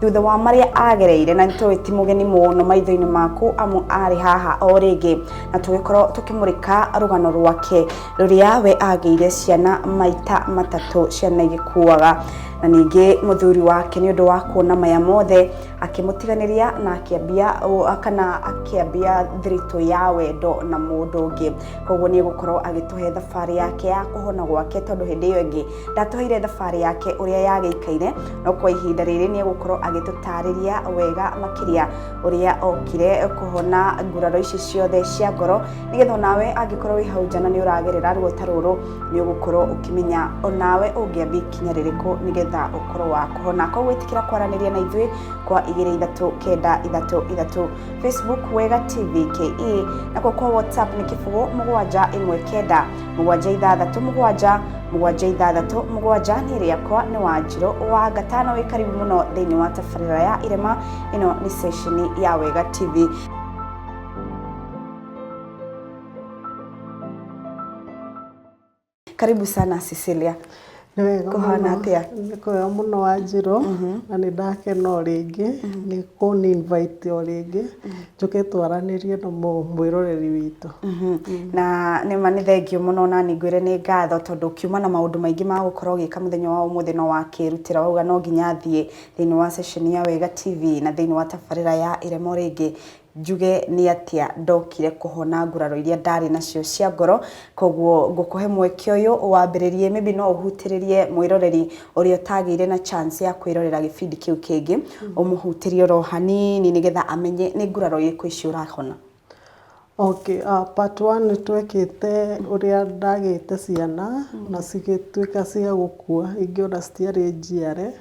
thutha wa marĩa agereire na nĩtũĩ ti mũgeni mũno maitho-inĩ maku amu arĩ haha o rĩngĩ na tũgĩkorwo tũkĩmũrĩka rũgano rwake rũrĩa we agĩire ciana maita matatũ ciana igĩkuaga na ningĩ mũthuri wake nĩ ũndũ wa kuona maya mothe akĩmũtiganĩria na akĩambia ũ- kana akĩambia thiritũ ya wendo na mũndũ ũngĩ koguo nĩ egũkorwo agĩtũhe thabarĩ yake ya kũhona gwake tondũ hĩndĩ ĩyo ĩngĩ ndatũheire thabarĩ yake ũrĩa yagĩikaire no kwa ihinda rĩrĩ nĩ egũkorwo agĩtũtarĩria wega makĩria ũrĩa okire kũhona nguraro ici ciothe cia ngoro nĩgetha onawe angĩkorwo wĩ hau njana nĩ ũragerera ruo ta rũrũ nĩ ũgũkorwo ũkĩmenya onawe ũngĩathiĩ kinya rĩrĩkũ nĩgetha ũkorwo wa kũhona koguo ĩtĩkĩra kwaranĩria na ithuĩ kwa igĩrĩ ithatũ kenda ithatũ ithatũ facebook wega tv ke nakuo kwa whatsapp nĩ kĩbũgũ mũgwanja ĩmwe kenda mũgwanja ithathatũ mũgwanja mũgwanja ithathatũ mũgwanja nĩ rĩakwa nĩ wa njirũ wa gatano wĩ karibu mũno thĩinĩ wa tabarĩra ya irema ĩno nĩ ceceni ya wega tv karibu sana cecilia Nĩ wega Kũhana mũno. atĩa? Nĩ kwega mũno Wanjirũ na nĩ ndakena o rĩngĩ nĩ kũni invite o rĩngĩ njũke twaranĩrie na mũ- mwĩroreri witũ. na nĩ ma nĩ thengiũ mũno na nĩ ngwĩre nĩ ngatho tondũ ũkiuma na maũndũ maingĩ ma gũkorwo ũgĩka mũthenya wa ũmũthĩ no wakĩrutĩra wauga no nginya thiĩ thĩinĩ wa ceceni ya Wega TV na thĩinĩ wa tabarĩra ya Irema Ũrĩ Ngĩ njuge nĩ atĩa ndokire kũhona nguraro iria ndarĩ nacio cia ngoro koguo ngũkũhe mweke ũyũ wambĩrĩrie maybe no ũhutĩrĩrie mwĩroreri ũrĩa ũtagĩire na chance ya kwĩrorera gĩbindi kĩu kĩngĩ ũmũhutĩrie oro hanini nĩgetha amenye nĩ nguraro irĩkũ ici ũrahona Okay, uh, part one nĩ twekĩte ũrĩa ndagĩte ciana na cigĩtuĩka cia gũkua ingĩona citiarĩ njiare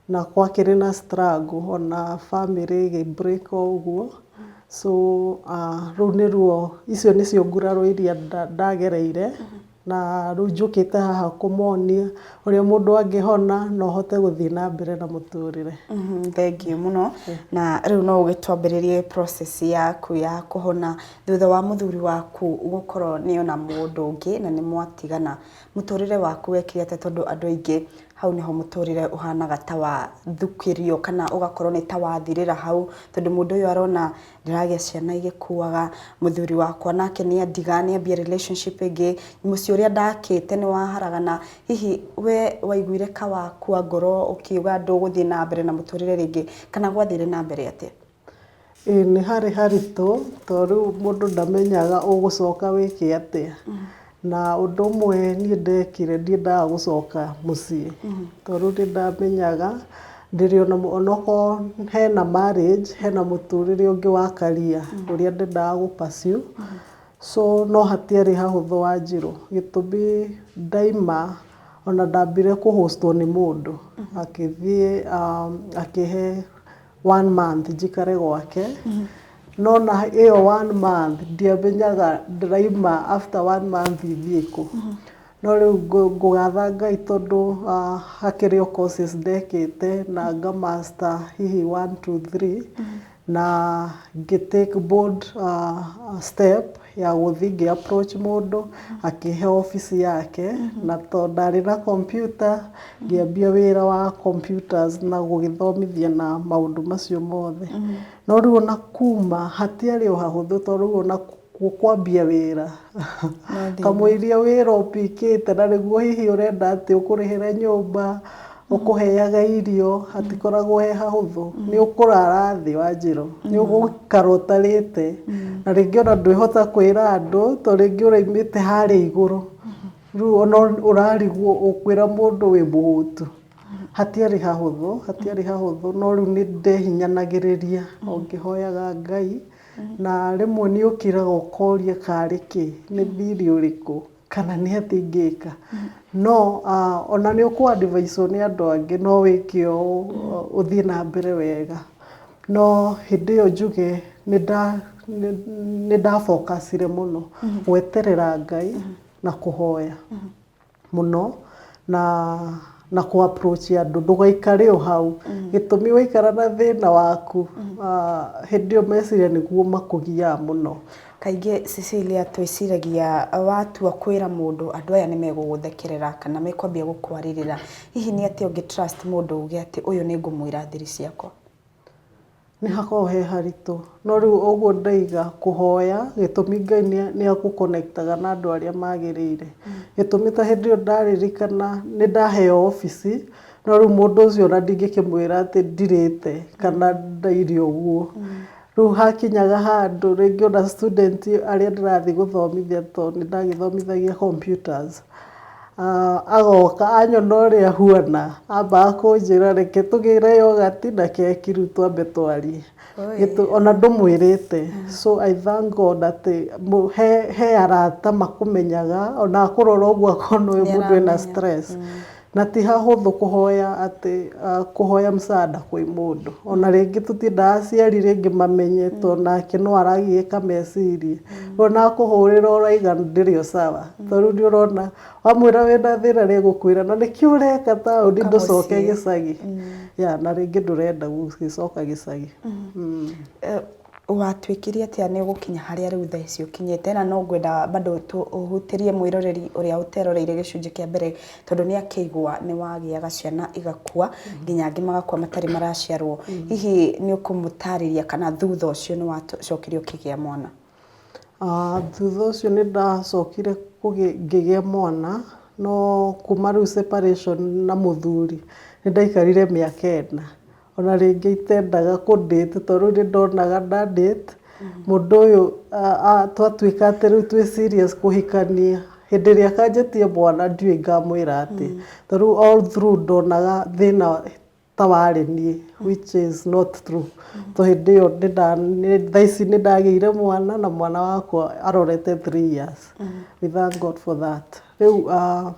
na gwakĩrĩ na struggle ona bamĩrĩ ĩgĩ break ũguo, so rũu nĩruo, icio nĩcio nguraro iria ndagereire, na rĩu njũkĩte haha kũmonia ũrĩa mũndũ angĩhona na ũhote gũthiĩ na mbere na mũtũrĩre. Thengiũ mũno, na rĩu no ũgĩtwambĩrĩrie process yaku ya kũhona thutha wa mũthuri waku gũkorwo nĩ ona mũndũ ũngĩ na nĩ mwatigana, mũtũrĩre waku wekire atĩa tondũ andũ aingĩ Hau nĩho mũtũrĩre ũhanaga ta wa thukĩrio kana ũgakorwo nĩ ta wa thirĩra hau, tondũ mũndũ ũyũ arona ndĩragĩa ciana igĩkuaga, mũthuri wakwa nake nĩ andiga nĩ ambia relationship ĩngĩ, mũciĩ ũrĩa ndakĩte nĩ wa haragana, hihi we waiguire ka wakua ngoro ũkiuga ndũgũthiĩ na mbere na mũtũrĩre rĩngĩ kana gwathire na mbere atĩa? Ĩĩ nĩ harĩ haritũ tondũ rĩu mũndũ ndamenyaga ũgũcoka wĩke atĩa. Na ũndũ ũmwe niĩ ndekire ndiendaga gũcoka mũciĩ tondũ nĩ ndamenyaga ndĩrĩ ona onokorwo hena marriage hena mũtũrĩre ũngĩ wa career ũrĩa ndendaga gũ pursue. So no hatiarĩ hahũthũ wanjirũ gĩtũmi ndaima ona ndambire kũ host wo nĩ mũndũ akĩthiĩ akĩhe... one month njikare gwake no na ĩyo one month ndiamenyaga ndĩraima after one month thiĩ kũ no rĩu ngũ- ngũgatha ngai tondũ ah, hakĩrĩ o courses ndekĩte na nga master hihi one two three na ngĩ take bold ah, step ya gũthiĩ ngĩ approach mũndũ akĩhe office yake na to ndarĩ na computer ngĩambia wĩra wa computers na gũgĩthomithia na maũndũ macio mothe. No rĩu ona kuma hatiarĩ o hahũthũ to rĩu ona kwambia wĩra kamũiria wĩra ũpikĩte na nĩguo hihi ũrenda atĩ ũkũrĩhĩre nyũmba, ũkũheaga irio hatikoragwo he hahũthũ, nĩ ũkũrara thĩ wa njĩra ũũ, nĩ ũgũikara ũtarĩte, na rĩngĩ ona ndwĩhota kwĩra andũ tondũ rĩngĩ ũraumĩte harĩa igũrũ, rĩu ona ũrarigwo ũkwĩra mũndũ wĩ mũhũtu, hatiarĩ hahũthũ, hatiarĩ hahũthũ no rĩu nĩ ndehinyanagĩrĩria o ngĩhoyaga Ngai, na rĩmwe nĩ ũkĩraga ũkoria karĩ kĩ, nĩ thirĩ ũrĩkũ. kana nĩ atĩa ingĩka. No ona nĩ ũkũ advise wo nĩ andũ angĩ no wĩke ũũ ũthiĩ na mbere wega. No hĩndĩ ĩyo njuge nĩ nda nĩ nda focus ire mũno gweterera Ngai na kũhoya mũno na... na kũ approach andũ ndũgaikare o hau gĩtũmi waikara na thĩna waku hĩndĩ ĩyo meciria nĩguo makũgiaga mũno. Kaingĩ Cecilia twĩciragia watua kwĩra mũndũ andũ aya nĩ megũgũthekerera kana mekwambia gũkwarĩrĩra, hihi nĩ atĩa ũngĩ trust mũndũ uge atĩ ũyũ nĩ ngũmwĩra thiri ciakwa? Nĩhakoragwo he haritũ, no rĩu ũguo ndaiga kũhoya gĩtũmi Ngai nĩagũ connect -aga na andũ arĩa magĩrĩire, gĩtũmi ta hĩndĩ ĩyo ndaririkana nĩndaheo obici no rĩu mũndũ ũcio ona ndingĩkĩmwĩra atĩ ndirĩte kana ndaire ũguo, rĩu hakinyaga handũ rĩngĩ ona student arĩa ndĩrathiĩ gũthomithia tondũ nĩndagĩthomithagia computers. Agoka anyona ũrĩa huana, ambaga kũnjĩra reke tũgĩre yogati na keki rĩu twambe twarie. Ona ndũmwĩrĩte. So I thank God atĩ he arata makũmenyaga, ona akũrora ũguo akona ũyũ mũndũ ena stress. Na ti hahũthũ kũhoya atĩ, kũhoya msaada kwĩ mũndũ. Ona rĩngĩ tũtiendaga aciari rĩngĩ mamenye tondũ nake no aragiĩka meciria. ona akũhũrĩra ũraiga ndĩrĩ o sawa to rĩu nĩ ũrona wamwĩra wĩna thĩna nĩ egũkwĩra na nĩkĩo ũreka taũni Ũka ndũcoke mũciĩ. gĩcagi ya na rĩngĩ ndũrenda gũgĩcoka gĩcagi Mm. Eh, watuĩkire atĩa nĩ ũgũkinya harĩa rĩu thaa ici ũkinyĩte na no ngwenda bado tũ- ũhutĩrie mwĩroreri ũrĩa ũteroreire gĩcunjĩ kĩa mbere tondũ nĩ akĩigua nĩ wagĩaga ciana igakua nginya angĩ magakua matarĩ maraciarwo hihi nĩ ũkũmũtarĩria kana thutha ũcio nĩ wacokire ũkĩgĩa mwana? Ah, thutha ũcio nĩ ndacokire ngĩgĩa mwana no kuma rĩu separation na mũthuri nĩ ndaikarire mĩaka ĩna Ona rĩngĩ itendaga kũ date tondũ rĩu nĩndonaga nda date mũndũ ũyũ twatuĩka atĩ rĩu twĩ serious kũhikania, hĩndĩ ĩrĩa akanjĩtia mwana ndiũĩ ngamwĩra atĩa. Ta rĩu all through ndonaga thĩna ta warĩ niĩ which is not true tondũ hĩndĩ ĩyo thaa ici nĩndagĩire mwana na mwana wakwa arorete three years. We thank God for that. Rĩu aah.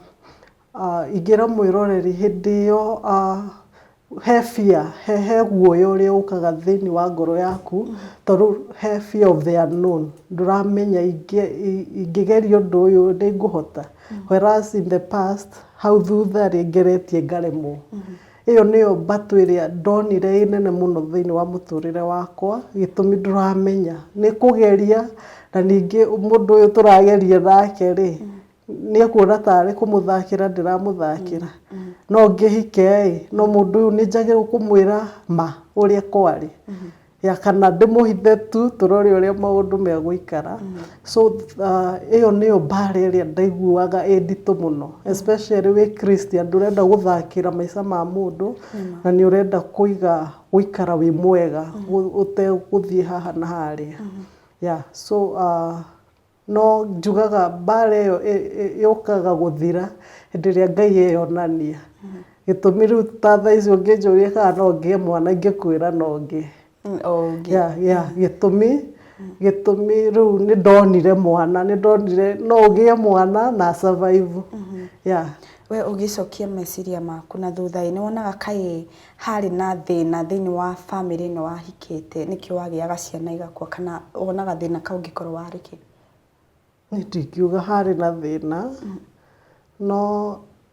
Ingĩra mwĩroreri hĩndĩ ĩyo he fear, he guoya ũrĩa ũkaga thĩinĩ wa ngoro yaku tondũ he fear of the unknown, ndũramenya ingĩgeria ũndũ ũyũ nĩ ngũhota? Whereas in the past hau thutha rĩ, ngeretie ngaremwo. ĩyo nĩyo mbatũ ĩrĩa ndonire ĩrĩ nene mũno thĩinĩ wa mũtũrĩre wakwa, gĩtũmi ndũramenya. Nĩ kũgeria na ningĩ mũndũ ũyũ tũrageria nake rĩ nĩ ekuona tarĩ kũmũthakĩra ndĩramũthakĩra, no ngĩhike ĩ, no mũndũ ũyũ nĩ njagĩrĩirwo kũmwĩra ma ũrĩa kwarĩ, kana ndĩmũhithe tu tũrore ũrĩa maũndũ megũikara. So ĩyo nĩyo mbara ĩrĩa ndaiguaga ĩ nditũ mũno especially wĩ Christian ndũrenda gũthakĩra maica ma mũndũ, na nĩ ũrenda kũiga gũikara wĩ mwega ũtegũthiĩ haha na harĩa. Yeah so No njugaga mbara ĩyo yũkaga gũthira hĩndĩ ĩrĩa Ngai eyonania. Gĩtũmi rĩu ta thaa ici ũngĩnjũria kana no ngĩe mwana ingĩkwĩra no ngĩe. Gĩtũmi, gĩtũmi rĩu nĩ ndonire mwana, nĩ ndonire no ũgĩe mwana na a survive. We ũgĩcokia meciria maku na thutha-ĩ, nĩ wonaga kaĩ harĩ na thĩna thĩinĩ wa bamĩrĩ ĩno wahikĩte nĩkĩo wagĩaga ciana igakua kana wonaga thĩna kau ũngĩkorwo warĩ kĩ? Niĩ ndingiuga harĩ na thĩna, no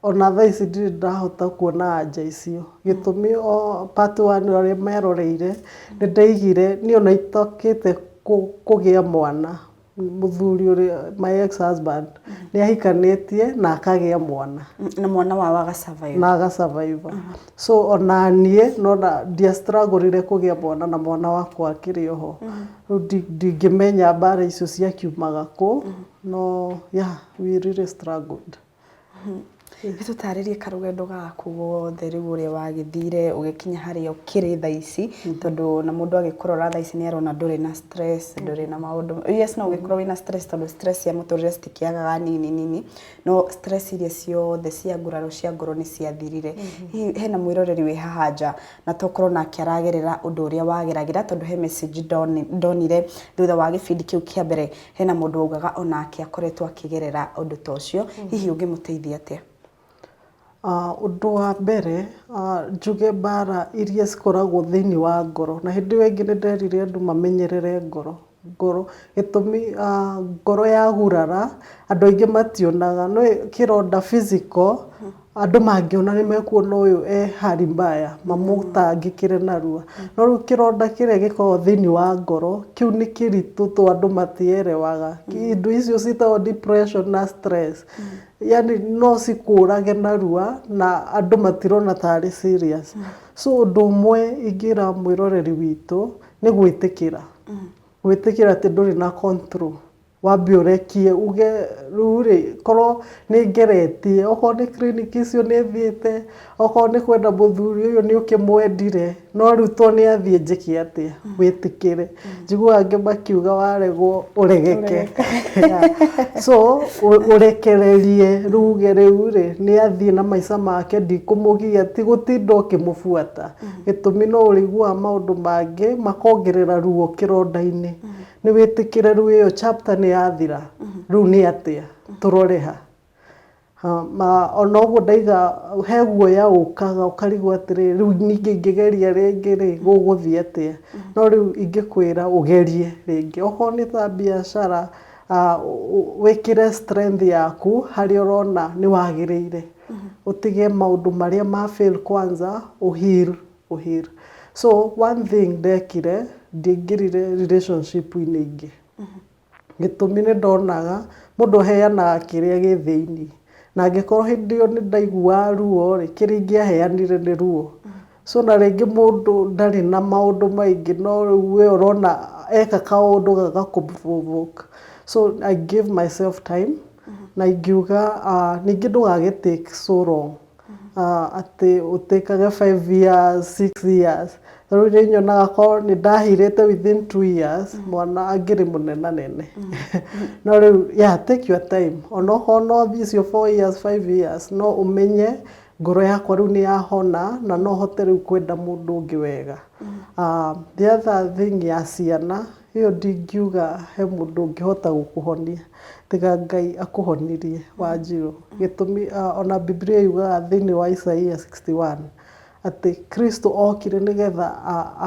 ona thaa ici ndirĩ ndahota kuona anja icio. Gĩtũmi o part one ũrĩa meroreire, nĩ ndaigire niĩ ona itokĩte kũgĩa mwana, Mũthuri ũrĩa my ex husband nĩ ahikanĩtie na akagĩa mwana. Na mwana wao aga survive. Na aga survive. So onaniĩ nĩwona ndia struggle ire kũgĩa mwana na mwana wakwa akĩrĩ oho. Rĩu ndingĩmenya mbara icio ciakiumaga kũ no yeah we really struggled. Nĩ tũtaarĩrie karũgendo gaku gothe rĩu ũrĩa wagĩthire ũgĩkinya harĩa ũkĩrĩ thaa ici, tondũ o na mũndũ agĩkũrora thaa ici nĩ arona ndũrĩ na stress, ndũrĩ na maũndũ, yes no ũgĩkorwo wĩna stress tondũ stress cia mũtũrĩre citikĩagaga nini nini, no stress iria ciothe cia nguraro cia ngoro nĩ ciathirire. Hihi he na mwĩroreri wĩ haha nja na to ũkorwo nake aragerera ũndũ ũrĩa wageragĩra tondũ he message ndonire thutha wa gĩbindi kĩu kĩa mbere, Hena mũndũ waugaga onake akoretwo akĩgerera ũndũ ta ũcio, hihi ũngĩmũteithia atĩa? Ũndũ wa mbere, njuge mbara iria cikoragwo thĩinĩ wa ngoro, na hĩndĩ ĩyo ĩngĩ nĩ nderire andũ mamenyerere ngoro, ngoro, gĩtũmi ngoro yagurara, andũ aingĩ mationaga, nĩ kĩronda physical. Andũ mangĩona nĩ mekuona ũyũ e hali mbaya mamũtangĩkĩre narua. No rĩu kĩronda kĩrĩa gĩkoragwo thĩinĩ wa ngoro, kĩu nĩ kĩritũ to andũ matielewaga. Indo icio ciĩtagwo depression na stress. Yaani no cikũrage narua na andũ matirona ta arĩ serious. So ũndũ ũmwe ingĩra mwĩroreri witũ nĩ gwĩtĩkĩra. Gwĩtĩkĩra atĩ ndũrĩ na control. Wambe ũrekie uge rĩu rĩ, korwo nĩ ngeretie, okorwo nĩ clinic icio nĩ thiĩte, okorwo nĩ kwenda mũthuri ũyũ nĩ ũkĩmwendire, no rĩu to nĩ athiĩ njĩke atĩa? Wĩtĩkĩre. Njiguaga angĩ makiuga waregwo ũregeke. So, ũrekererie rĩu uge rĩu rĩ, nĩ athiĩ na maica make ndikũmũgiya, ti gũtinda ũkĩmũbuata. Gĩtũmi no ũrĩiguaga maũndũ mangĩ makongerera ruo kĩronda-inĩ. Nĩ wĩtĩkĩre rĩu ĩyo chapter nĩ yathira, rĩu nĩ atĩa? Tũrore ha. Ha, ma- Ona ũguo ndaiga he guoya ũkaga ũkarigwo atĩrĩ rĩu ningĩ ingĩgeria rĩngĩ rĩ gũgũthiĩ atĩa? No rĩu ingĩkwĩra ũgerie rĩngĩ. Okorwo nĩ ta biacara ah, ũ- ũ- wĩkĩre strength yaku harĩa ũrona nĩ wagĩrĩire. Ũtige maũndũ marĩa ma fail kwanza, ũ heal kũheal. So one thing ndekire, ndingĩrire relationship inĩ ingĩ. Gĩtũmi nĩ ndonaga mũndũ aheanaga kĩrĩa gĩ thĩinĩ. Na angĩkorwo hĩndĩ ĩyo nĩ ndaiguaga ruo rĩ, kĩrĩa ingĩaheanire nĩ ruo. So na rĩngĩ mũndũ ndarĩ na maũndũ maingĩ no rĩu we ũrona eka kaũndũ gagakũ provoke. So I gave myself time na ingiuga ningĩ ndũgagĩ take so long. atĩ ũtĩkage five years, six years. Ta rĩu nĩ nyonaga korwo nĩ ndahĩrĩte within two years, mwana angĩrĩ mũnenanene. No rĩu yeah take your time. Onokorwo no icio four years, five years, no ũmenye ngoro yakwa rĩu nĩ yahona, na no hote rĩu kwenda mũndũ ũngĩ wega. The other thing ya ciana... Ĩyo ndingiuga he mũndũ ũngĩhota gũkũhonia tiga Ngai akũhonirie Wanjirũ. Gĩtũmi ona Bibilia yugaga thĩinĩ wa Isaia sixty one atĩ Kristo okire nĩ getha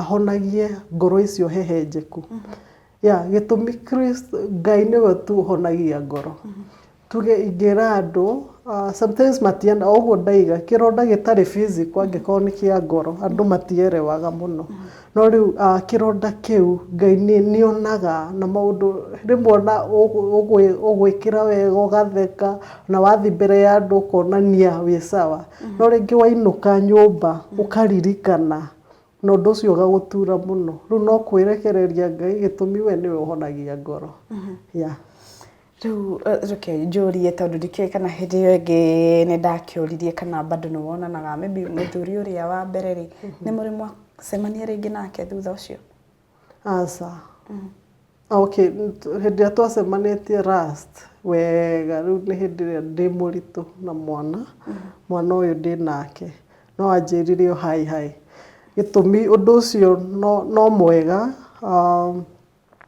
ahonagie ngoro icio hehenjeku. Gĩtũmi Ngai nĩwe tu ũhonagia ngoro. Tuge ingĩra andũ, sometimes matiana, o ũguo ndaiga, kĩronda gĩtarĩ physical angĩkorwo nĩ kĩa ngoro, andũ matielewaga mũno. No rĩu kĩronda kĩu, Ngai nĩ nĩonaga na maũndũ rĩmwe ona ũgwĩkĩra wega ũgatheka, na wathi mbere ya andũ ũkonania wĩ sawa. No rĩngĩ wainũka nyũmba, ũkaririkana, na ũndũ ũcio ũgagũtura mũno. Rĩu no kwĩrekereria Ngai gĩtũmi we nĩwe ũhonagia ngoro. Yeah. Rĩu reke njũrie tondũ ndikĩũĩ kana hĩndĩ ĩyo ĩngĩ nĩ ndakĩũririe kana bado nĩ wonanaga maybe mũthuri ũrĩa wa mbere rĩ, nĩ mũrĩ mwacemania rĩngĩ nake thutha ũcio? Aca. Okay, hĩndĩ ĩrĩa twacemanĩtie last wega rĩu nĩ hĩndĩ ĩrĩa ndĩ mũritũ na mwana, mwana ũyũ ndĩ nake, no anjĩrire o hi hi. Gĩtũmi ũndũ ũcio no mwega.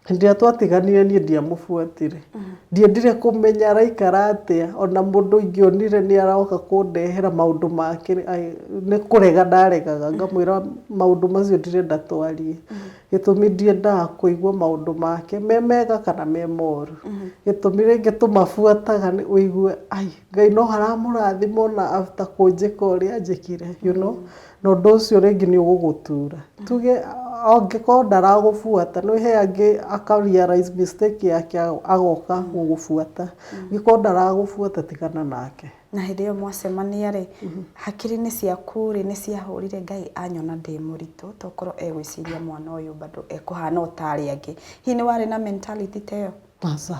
Hĩndĩ ĩrĩa twatiganire niĩ ndiamũbuatire. Ndiendire kũmenya araikara atĩa, o na mũndũ ingĩonire nĩ aroka kũndehera maũndũ make, nĩ kũrega ndaregaga ngamwĩra maũndũ macio ndirenda twarie. Gĩtũmi ndiendaga kũigua maũndũ make me mega kana me moru. Gĩtũmi rĩngĩ tũmabuataga nĩ ũigue ai, Ngai no aramũrathima o na after kũnjĩka ũrĩa anjĩkire, you know. Na ũndũ ũcio rĩngĩ nĩ ũgũgũtuura. Tuge angĩkorwo ndaragũbuata, nĩ he angĩ aka realise mistake yake agoka gũgũbuata. Angĩkorwo ndaragũbuata tigana nake. Na hĩndĩ ĩyo mwacemania rĩ, hakiri-inĩ ciaku rĩ, nĩ ciahũrire Ngai anyona ndĩ mũritũ to korwo egwĩciria mwana ũyũ bado ekũhana o ta arĩa angĩ? Hihi nĩ warĩ na mentality ta ĩyo? Aca.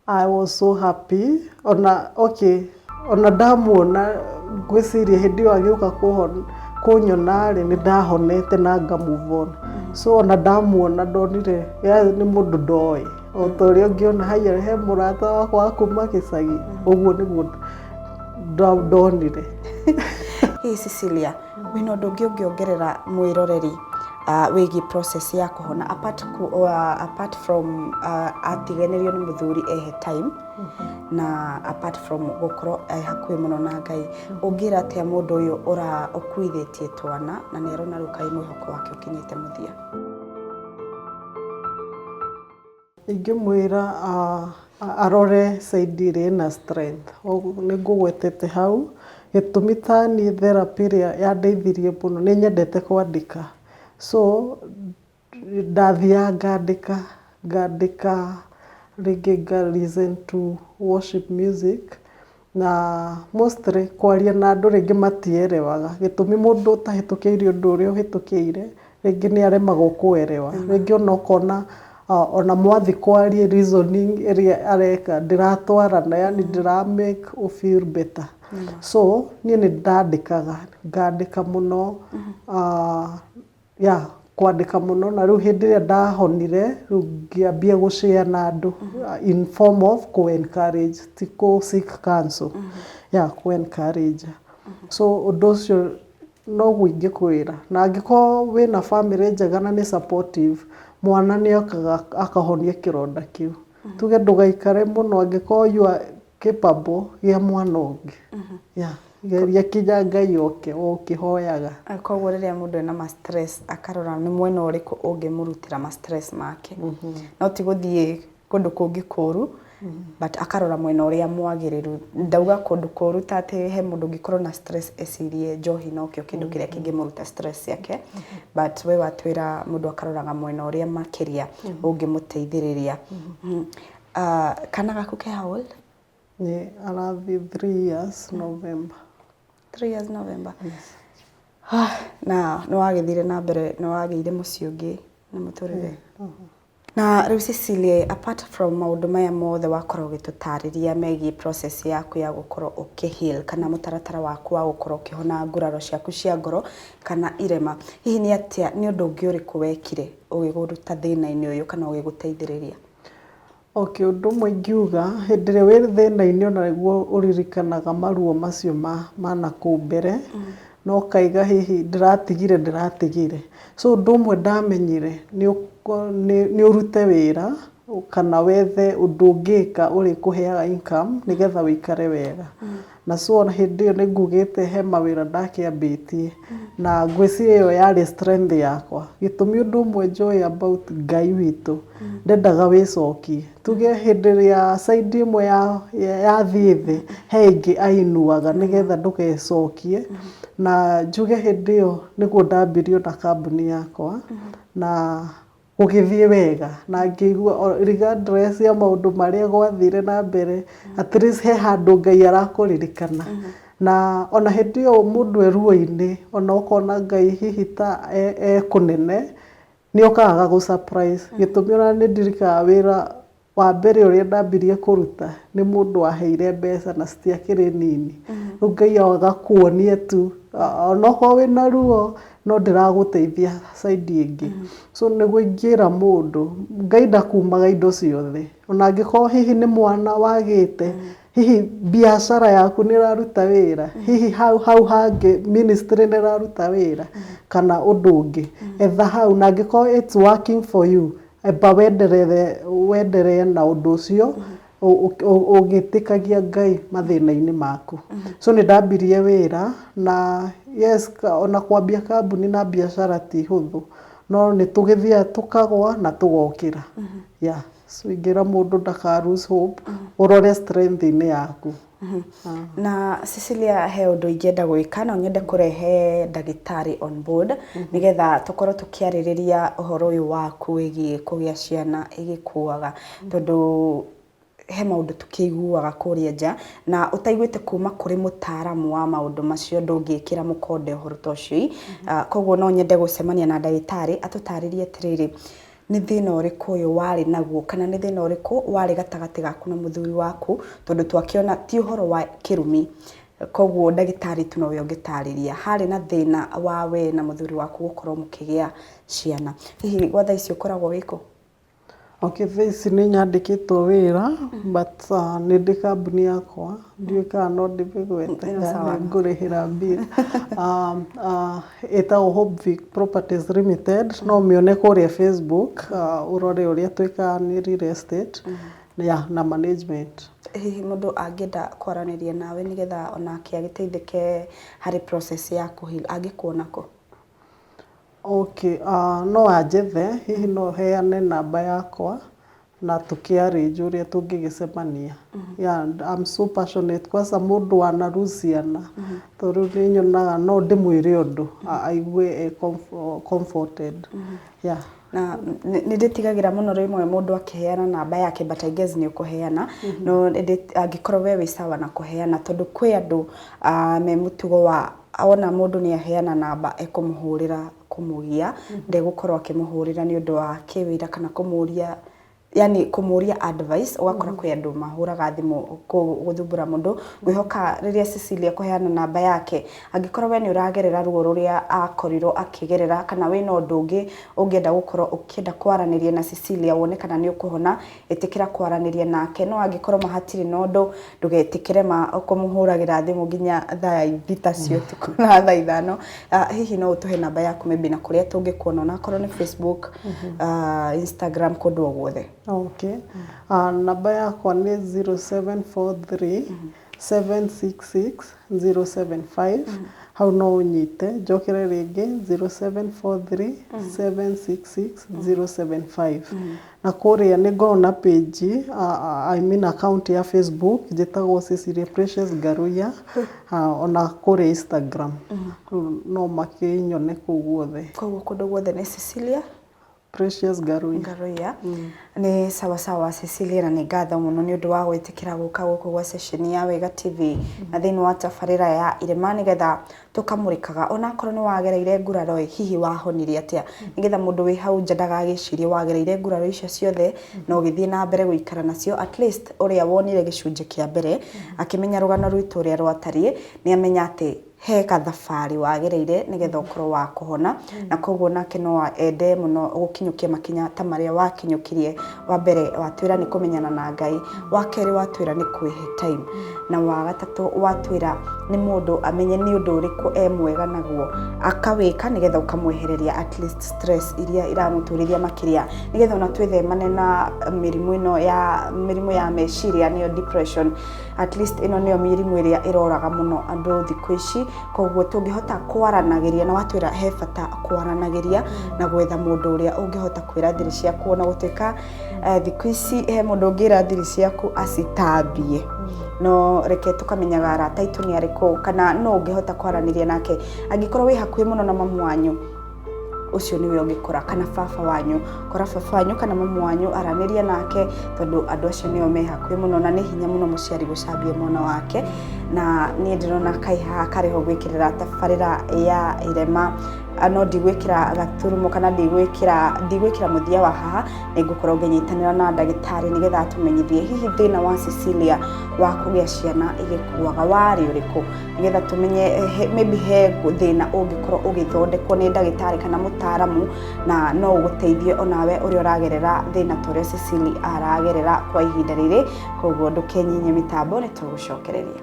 I was so happy ona okay ona ndamuona ngwĩciria hĩndĩ ĩyo agĩũka kũhona kũnyona rĩ nĩ ndahonete na nga move on so ona ndamuona ndonire yaani nĩ mũndũ ndoĩ o ta ũrĩa ũngĩona haiya he mũrata wakwa wa kuma gĩcagi ũguo nĩguo nda- ndonire Hii Cecilia Wĩna ũndũ ũngĩ ũngĩongerera mwĩroreri wĩgiĩ process ya kũhona apart apart from atiganĩrio nĩ mũthuri ehe time na apart from gũkorwo e hakuhĩ mũno na Ngai, ũngĩra atĩa mũndũ ũyũ ũkuithĩtie twana na nĩ arona rĩu kaĩ mwĩhoko wake ũkinyĩte mũthia? Ingĩmwĩra arore side ĩrĩa ĩna strength, nĩ ngũgwetete hau, gĩtũmi ta niĩ therapy ĩrĩa yandeithirie mũno, nĩ nyendete kwandĩka, so ndathiaga ngandĩka, ngandĩka rĩngĩ nga listen to worship music Na mostly kwaria na andũ rĩngĩ matielewaga gĩtũmi mũndũ ũtahĩtũkĩire ũndũ ũrĩa ũhĩtũkĩire rĩngĩ nĩ aremagwo kũ elewa. Rĩngĩ ona ũkona ona mwathi kwaria reasoning ĩrĩa areka ndĩratwarana yaani ndĩra make ũ feel better. So niĩ nĩ ndandĩkaga ngandĩka mũno. yeah, kwandĩka mũno na rĩu hĩndĩ ĩrĩa ndahonire rĩu ngĩambia gũcea na andũ in form of kũ encourage ti kũ seek counsel yeah, kũ encourage so ũndũ ũcio noguo ingĩkwĩra na angĩkorwo wĩna bamĩrĩ njega na nĩ supportive mwana nĩokaga akahonio kĩronda kĩu tuge ndũgaikare mũno angĩkorwo you are Kĩbabũ gĩa mwana ũngĩ. Yeah. Geria kinya Ngai oke ũkĩhoyaga. Koguo rĩrĩa mũndũ ena ma stress akarora nĩ mwena ũrĩkũ ũngĩmũrutĩra ma stress make. No ti gũthiĩ kũndũ kũngĩ kũru, but akarora mwena ũrĩa mwagĩrĩru. Ndauga kũndũ kũru ta atĩ he mũndũ ũngĩkorwo na stress ecirie njohi nokĩo kĩndũ kĩrĩa kĩngĩmũruta stress ciake, but we watwĩra mũndũ akaroraga mwena ũrĩa makĩria ũngĩmũteithĩrĩria. Uh, kana gaku ke how old? Nĩ arathiĩ three years November. Three years November. Yes. Ah, na nĩ wagĩthire na mbere nĩ wagĩire mũciĩ ũngĩ na mũtũrĩre na rĩu Cecilia apart from maũndũ maya mothe wakorwo ũgĩtũtarĩria megiĩ process yaku ya gũkorwo ũkĩheal kana mũtaratara waku wa gũkorwo ũkĩhona nguraro ciaku cia ngoro kana irema hihi nĩ atĩa nĩ ũndũ ũngĩ ũrĩkũ wekire ũgĩgũruta thĩna-inĩ ũyũ kana ũgĩgũteithĩrĩria Okay, ũndũ ũmwe ingiuga, hĩndĩ ĩrĩa wĩ thĩna-inĩ ona nĩguo ũririkanaga maruo macio ma ma nakũu mbere, na ũkaiga hihi ndĩratigire ndĩratigire. So ũndũ ũmwe ndamenyire, nĩ nĩ ũrute wĩra, kana wethe ũndũ ũngĩka ũrĩkũheaga income nĩgetha wĩikare wega. Na so ona hĩndĩ ĩyo nĩ ngugĩte he mawĩra ndakĩambĩtie, na ngwĩciria ĩyo yarĩ strength yakwa. Gĩtũmi ũndũ ũmwe njũĩ about Ngai witũ, ndendaga wĩcokie. Tuge hĩndĩ ĩrĩa side ĩmwe yathiĩ thĩ, he ĩngĩ ainuaga nĩgetha ndũgecokie. Na njuge hĩndĩ ĩyo nĩguo ndambirie ona kambuni yakwa, na... Gũgĩthiĩ wega na ngĩigua regardless ya maũndũ marĩa gwathire na mbere, at least he handũ Ngai arakũririkana. Na ona hĩndĩ ĩyo mũndũ e ruo-inĩ ona ũkona Ngai hihi ta e kũnene, nĩ okaga agagũ surprise. Gĩtũmi ona nĩ ndirikanaga wĩra Wa mbere ũrĩa ndambirie kũruta nĩ mũndũ waheire mbeca na citiakĩrĩ nini. Rĩu Ngai agakuonia tu onokorwo wĩna ruo no ndĩragũteithia side ĩngĩ. So nĩguo ingĩra mũndũ Ngai ndakumaga indo ciothe. Ona angĩkorwo hihi nĩ mwana wagĩte, hihi biacara yaku nĩ ĩraruta wĩra, hihi hau hau hangĩ ministry nĩ ĩraruta wĩra kana ũndũ ũngĩ. Etha hau na angĩkorwo it's working for you. Amba wenderere, wendere na ũndũ ũcio, ũgĩtĩkagia Ngai mathĩna-inĩ maku. So nĩ ndambirie wĩra, na yes o na kwambia kambuni na mbiacara ti hũthũ, no nĩ tũgĩthiaga tũkagũa na tũgokĩra. Yeah. So ingĩra mũndũ ndaka lose hope, ũrore strength -inĩ yaku. Na Cecilia he ũndũ ingĩenda gwĩka, no nyende kũrehe ndagĩtarĩ on board nĩgetha tũkorwo tũkĩarĩrĩria ũhoro ũyũ waku wĩgiĩ kũgĩa ciana ĩgĩkuaga tondũ he maũndũ tũkĩiguaga kũrĩa nja na ũtaiguĩte kuma kũrĩ mũtaaramu wa maũndũ macio ndũngĩkĩra mũkonde ũhoro ta ũcio. Koguo no nyende gũcemania na ndagĩtarĩ atũtarĩrie atĩrĩrĩ, Nĩ thĩna ũrĩkũ ũyũ warĩ naguo, kana nĩ thĩna ũrĩkũ warĩ gatagatĩ gaku na mũthuri waku, tondũ twakĩona ti ũhoro wa kĩrumi, koguo ndagĩtarĩ tu nowe ũngĩtarĩria. Harĩ na thĩna wa we na mũthuri waku gũkorwo mũkĩgĩa ciana. Hihi gwa thaa ici ũkoragwo wĩ kũ? Okay, thaa ici nĩ nyandĩkĩtwo wĩra, but nĩ ndĩ kambuni yakwa, ndiũĩ kana no ndĩmĩgwete, ngũrĩhĩra mbia. Ĩtagwo Hope Vic Properties Limited, no ũmĩone kũrĩa Facebook, ũrore ũrĩa twĩkaga nĩ real estate na management. Hihi mũndũ angĩenda kwaranĩria nawe nĩgetha onake agĩteithĩke harĩ process ya kũ heal angĩkuona kũ? Okay, no anjethe, hihi no heane namba yakwa, na tũkĩarĩnjwo ũrĩa tũngĩgĩcemania. Yeah, I'm so passionate kwanza mũndũ wanaruciana tondũ rĩu nĩ nyonaga no ndĩmwĩre ũndũ a- aigue e comfo- comforted. Yeah. na nĩ nĩ ndĩtigagĩra mũno rĩmwe mũndũ akĩheana namba yake but I guess nĩ ũkũheana no nĩ ndĩ- angĩkorwo we wĩ sawa na kũheana tondũ kwĩ andũ ah, me mũtugo wa wona mũndũ nĩ aheana namba ekũmũhũrĩra kũmũgia ndegũkorwo akĩmũhũrĩra nĩ ũndũ wa kĩwĩra kana kũmũria yani kũmũria advice ũgakora kwĩ andũ mahũraga thimũ kũ- gũthumbũra mũndũ ngwĩhoka rĩrĩa Cecilia kũheana namba yake angĩkorwo we nĩ ũragerera ruo rũrĩa akorirwo akĩgerera kana wĩna ũndũ ũngĩ ũngĩenda gũkorwo ũkĩenda kwaranĩria na Cecilia wone kana nĩ ũkũhona Ĩtĩkĩra kwaranĩria nake, no angĩkorwo ma hatirĩ na ũndũ, ndũgetĩkĩre ma kũmũhũragĩra thimũ nginya thaa thita cia ũtukũ na thaa ithano. Ah, Hihi no ũtũhe namba yaku maybe na kũrĩa tũngĩkuona onakorwo nĩ Facebook, ah, Instagram, kũndũ o guothe. Okay. Ah, namba yakwa nĩ 0743 766075 hau no ũnyite, njokere rĩngĩ 0743766075 na kũrĩa nĩ ngoragwo na page I mean account ya Facebook njĩtagwo Cecilia Precious Ngarũiya ona kũrĩa Instagram no makĩnyone kũu guothe. Kũguo kũndũ guothe nĩ Cecilia Precious Ngarũiya. Ngarũiya. Nĩ sawa sawa Cecilia na nĩ ngatho mũno nĩ ũndũ wa gwĩtĩkĩra gũka gũkũ gwa ceceni ya Wega TV na thĩinĩ wa tabarĩra ya Irĩma nĩgetha tũkamũrĩkaga ona akorwo nĩ wagereire nguraro ĩ, hihi wahonire atĩa? Nĩgetha mũndũ wĩ hau nja ndagagĩcirie wagereire nguraro icio ciothe na ũgĩthiĩ na mbere gũikara nacio at least ũrĩa wonire gĩcunjĩ kĩa mbere akĩmenya rũgano rwitũ ũrĩa rwatariĩ nĩ amenya atĩ he gathabarĩ wagereire nĩgetha ũkorwo wa kũhona, na koguo nake no ende mũno gũkinyũkia makinya ta marĩa wakinyũkirie. Wa mbere watwĩra nĩ kũmenyana na Ngai, wa kerĩ watwĩra nĩ kwĩhe time, na wa gatatũ watwĩra nĩ mũndũ amenye nĩ ũndũ ũrĩkũ e mwega naguo akawĩka nĩgetha ũkamwehereria at least stress iria iramũturĩria makĩria, nĩgetha ona twĩthemane na mĩrimũ ĩno ya mĩrimũ ya meciria nĩyo depression. At least ĩno nĩyo mĩrimũ ĩrĩa ĩroraga mũno andũ thikũ ici, koguo tũngĩhota kwaranagĩria na watwĩra he bata kwaranagĩria na gwetha mũndũ ũrĩa ũngĩhota kwĩra thiri ciaku ona gũtuĩka eh, thikũ ici he mũndũ ũngĩra thiri ciaku acitambie no reke tũkamenyaga arata aitũ nĩ arĩkũ kana no ũngĩhota kwaranĩria nake angĩkorwo wĩ hakuhĩ mũno na mamu wanyu ũcio nĩwe ũngĩkora kana baba wanyu kora baba wanyu kana mamu wanyu aranĩria nake tondũ andũ acio nĩo me hakuhĩ mũno na nĩ hinya mũno mũciari gũcambia mwana wake na niĩ ndĩrona kai haha karĩho gwĩkĩrĩra tabarĩra ya irema no ndigwĩkĩra gaturumo kana ndigwĩkĩra ndigwĩkĩra mũthia wa haha nĩ ngũkorwo ngĩnyitanĩra na ndagĩtarĩ nĩgetha atũmenyithie hihi thĩna wa Cecilia wa kũgĩa ciana igĩkuaga warĩ ũrĩkũ nĩgetha tũmenye eh, he- maybe he thĩna ũngĩkorwo ũgĩthondekwo nĩ ndagĩtarĩ kana mũtaaramu na no ũgũteithie onawe ũrĩa ũragerera thĩna ta ũrĩa Cecily aragerera kwa ihinda rĩrĩ koguo ndũkenyinye mĩtambo nĩ tũgũcokereria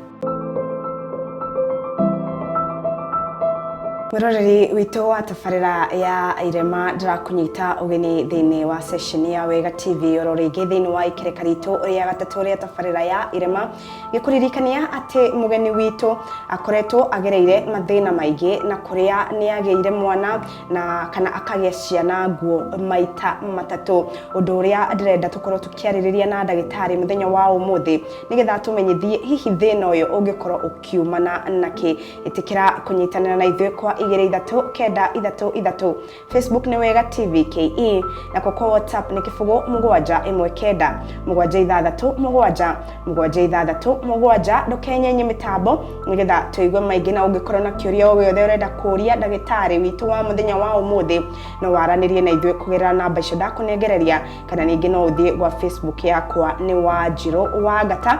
mwĩroreri witũ wa tabarĩra ya irema ndĩrakũnyita ũgeni thĩinĩ wa sesheni ya wega tv oro rĩngĩ thĩinĩ wa ikereka ritũ rĩa gatatũ rĩa tabarĩra ya irema gĩkũririkania atĩ mũgeni witũ akoretwo agereire mathĩna maingĩ na kũrĩa nĩ agĩire mwana na kana akagĩa ciana nguo maita matatũ ũndũ ũrĩa ndĩrenda tũkorwo tũkĩarĩrĩria na ndagĩtarĩ mũthenya wa ũmũthĩ nĩgetha tũmenyithie hihi thĩna ũyũ ũngĩkorwo ũkiumana nakĩ ĩtĩkĩra kũnyitanĩra na ithuĩ kwa igĩrĩ ithatũ kenda ithatũ ithatũ Facebook nĩ wega TV KE na kwa kwa WhatsApp nĩ kĩbũgũ mũgwanja ĩmwe kenda mũgwanja ithathatũ mũgwanja mũgwanja ithathatũ mũgwanja ndũkenyenye mĩtambo nĩgetha tũigue maingĩ na ũngĩkorwo na kĩũria o gĩothe ũrenda kũria ndagĩtarĩ witũ wa mũthenya wa ũmũthĩ no waranĩrie na ithuĩ kũgerera namba icio ndakũnengereria kana ningĩ no ũthiĩ gwa Facebook yakwa nĩ Wanjirũ wa Ngata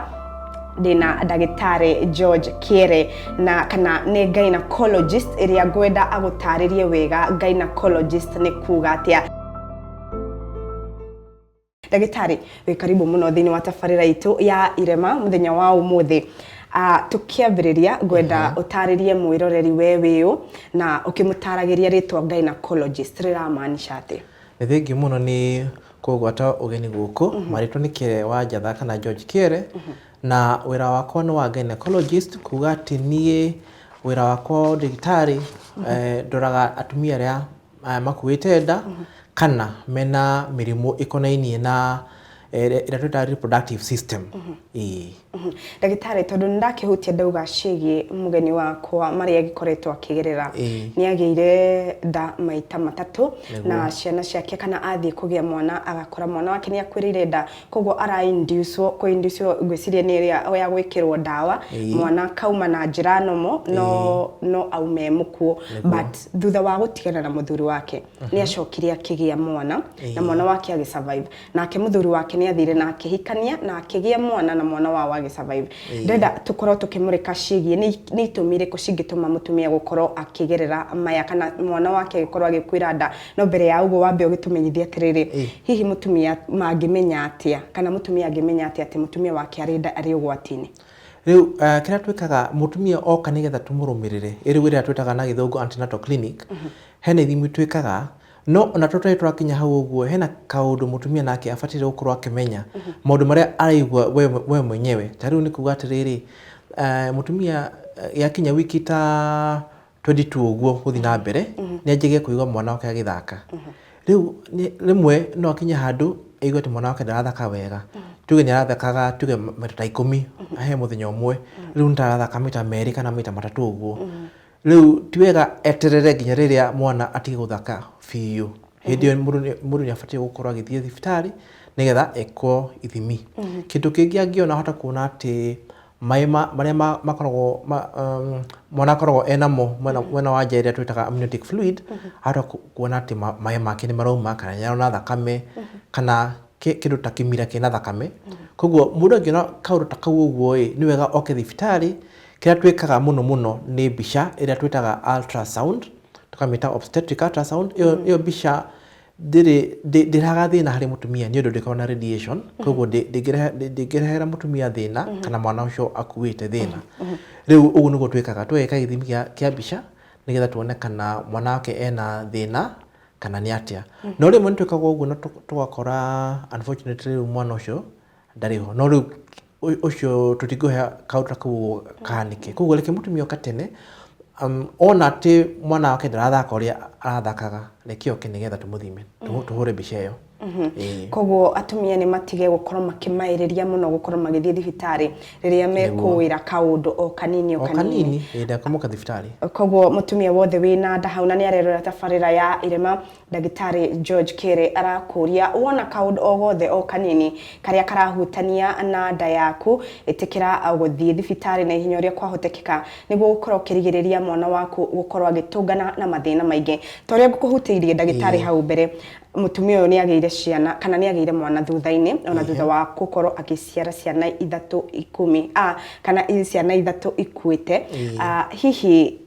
ndĩna ndagĩtarĩ george kĩere na kana nĩ gynecologist ĩrĩa ngwenda agũtarĩrie wega gynecologist nĩ kuga atĩa ndagĩtarĩ wĩ karibu mũno thĩinĩ wa tabarĩra itũ ya irema mũthenya wa ũmũthĩ Uh, tũkĩambĩrĩria ngwenda ũtarĩrie mwĩroreri we wĩũ na ũkĩmũtaragĩria rĩtwa gynecologist rĩramaanisha atĩ Nĩ thengiũ mũno nĩ kũgwata ũgeni gũkũ. Marĩtwa nĩ Kĩere wa Njatha kana George Kĩere, na wĩra wakwa nĩ wa gynecologist, kuga atĩ niĩ wĩra wakwa wa ũndagĩtarĩ eh, ndoraga atumia arĩa eh, makuĩte nda kana mena mĩrimũ ĩkonainie na Eh, ĩrĩa ĩrĩa twĩtaga reproductive system Ĩĩ. Mhm. ndagĩtarĩ tondũ nĩ ndakĩhutia ndauga ciĩgiĩ mũgeni wakwa marĩa agĩkoretwo akĩgerera Ĩĩ. nĩ agĩire nda maita matatũ na ciana ciake kana athiĩ kũgĩa mwana agakora mwana wake nĩ akwĩrĩire nda koguo arainducwo kũinducwo ngwĩciria nĩ ĩrĩa ya gwĩkĩrwo ndawa Ĩĩ. mwana akauma na njĩra nomo no, no aume mũkuo but thutha wa gũtigana na mũthuri wake nĩ acokire akĩgĩa mwana na mwana wake agĩ survive nake mũthuri wake nĩ athire na akĩhikania na akĩgĩa mwana na mwana wao agĩ survive ndĩrenda tũkorwo tũkĩmũrĩka ciĩgiĩ nĩ nĩ itũmi irĩkũ cingĩtũma mũtumia gũkorwo akĩgerera maya kana mwana wake agĩkorwo agĩkuĩra nda no mbere ya ũguo wambe ũgĩtũmenyithie atĩrĩrĩ Ĩĩ. hihi mũtumia mangĩmenya atĩa kana mũtumia angĩmenya atĩa atĩ mũtumia wake arĩ nda arĩ ũgwati-inĩ Rĩu uh, kĩrĩa twĩkaga mũtumia oka nĩgetha tũmũrũmĩrĩrĩ ĩrĩ wĩra twĩtaga na gĩthũngũ antenatal clinic Hena ithimi twĩkaga, no ona tũtarĩ twakinya hau ũguo, hena kaũndũ mũtumia nake abataire gũkorwo akĩmenya, maũndũ marĩa araigua we we mwenyewe. Ta rĩu nĩ kuuga atĩrĩrĩ, mũtumia yakinya wiki ta twenty two ũguo gũthiĩ na mbere, nĩ anjagia kũigua mwana wake agĩthaka. Rĩu nĩ rĩmwe no akinye handũ aigue atĩ mwana wake ndarathaka wega. Tuge nĩ arathakaga tuge maita ta ikũmi he mũthenya ũmwe, rĩu nĩ ta arathaka maita meerĩ kana maita matatũ ũguo. Rĩu ti wega eterere nginya rĩrĩa mwana atige gũthaka biũ. Hĩndĩ ĩyo mũndũ nĩ- mũndũ nĩabatiĩ gũkorwo agĩthiĩ thibitarĩ nĩgetha ekwo ithimi. Kĩndũ kĩngĩ angĩona ahote kuona atĩ maĩ ma- marĩa ma- makoragwo ma- um, mwana akoragwo enamo mwena mwena wa nja ĩrĩa twĩtaga amniotic fluid, ahote ku- kuona atĩ ma- maĩ make nĩmarauma kana nĩarona thakame kana kĩ- kĩndũ ta kĩmira kĩna thakame. Kuoguo mũndũ angĩona kaũndũ ta kau ũguo-ĩ, nĩ wega oke thibitarĩ Kĩrĩa twĩkaga mũno mũno nĩ mbica ĩrĩa twĩtaga ultrasound, tũkamĩta obstetric ultrasound, ĩyo ĩyo mbica ndĩrĩ ndĩ- ndĩrehaga thĩna harĩ mũtumia nĩ ũndũ ndĩkoragwo na radiation, koguo ndĩ- ndĩngĩrehe- ndĩ- ndĩngĩrehera mũtumia thĩna kana mwana ũcio akuĩte thĩna. Rĩu ũguo nĩguo twĩkaga, tũgeka gĩthimi gĩa kĩa mbica nĩgetha tuone kana mwana wake ena thĩna kana nĩ atĩa. No rĩmwe nĩ twĩkaga ũguo na tũ- tũgakora unfortunately rĩu mwana ũcio ndarĩ ho no rĩu ũ- ũcio tũtingĩhe kaũndũ ta kau kahanĩke koguo reke mũtumia oka tene um, ona atĩ mwana wake ndarathaka ũrĩa arathakaga reke oke nĩgetha tũmũthime Tũhũ- tũhũre mbica ĩyo Ĩĩ. koguo atumia nĩ matige gũkorwo makĩmaĩrĩria mũno gũkorwo magĩthiĩ thibitarĩ rĩrĩa mekũĩra kaũndũ o kanini o o kanini kanini ĩĩ ndakũmũka thibitarĩ koguo mũtumia wothe wĩna nda hau na nĩ arerora tabarĩra ya irema Ndagĩtarĩ George Kĩrĩ arakũria, wona kaũndũ o gothe o kanini karĩa karahutania na nda yaku, ĩtĩkĩra gũthiĩ thibitarĩ na ihenya ũrĩa kwahotekeka nĩguo gũkorwo ũkĩrigĩrĩria mwana waku gũkorwo agĩtũngana na mathĩna maingĩ. Ta ũrĩa ngũkũhutĩirie ndagĩtarĩ hau mbere, mũtumia ũyũ nĩ agĩire ciana kana nĩ agĩire mwana thutha-inĩ ona thutha wa gũkorwo agĩciara ciana ithatũ ikumi, kana ciana ithatũ ikuĩte. Hihi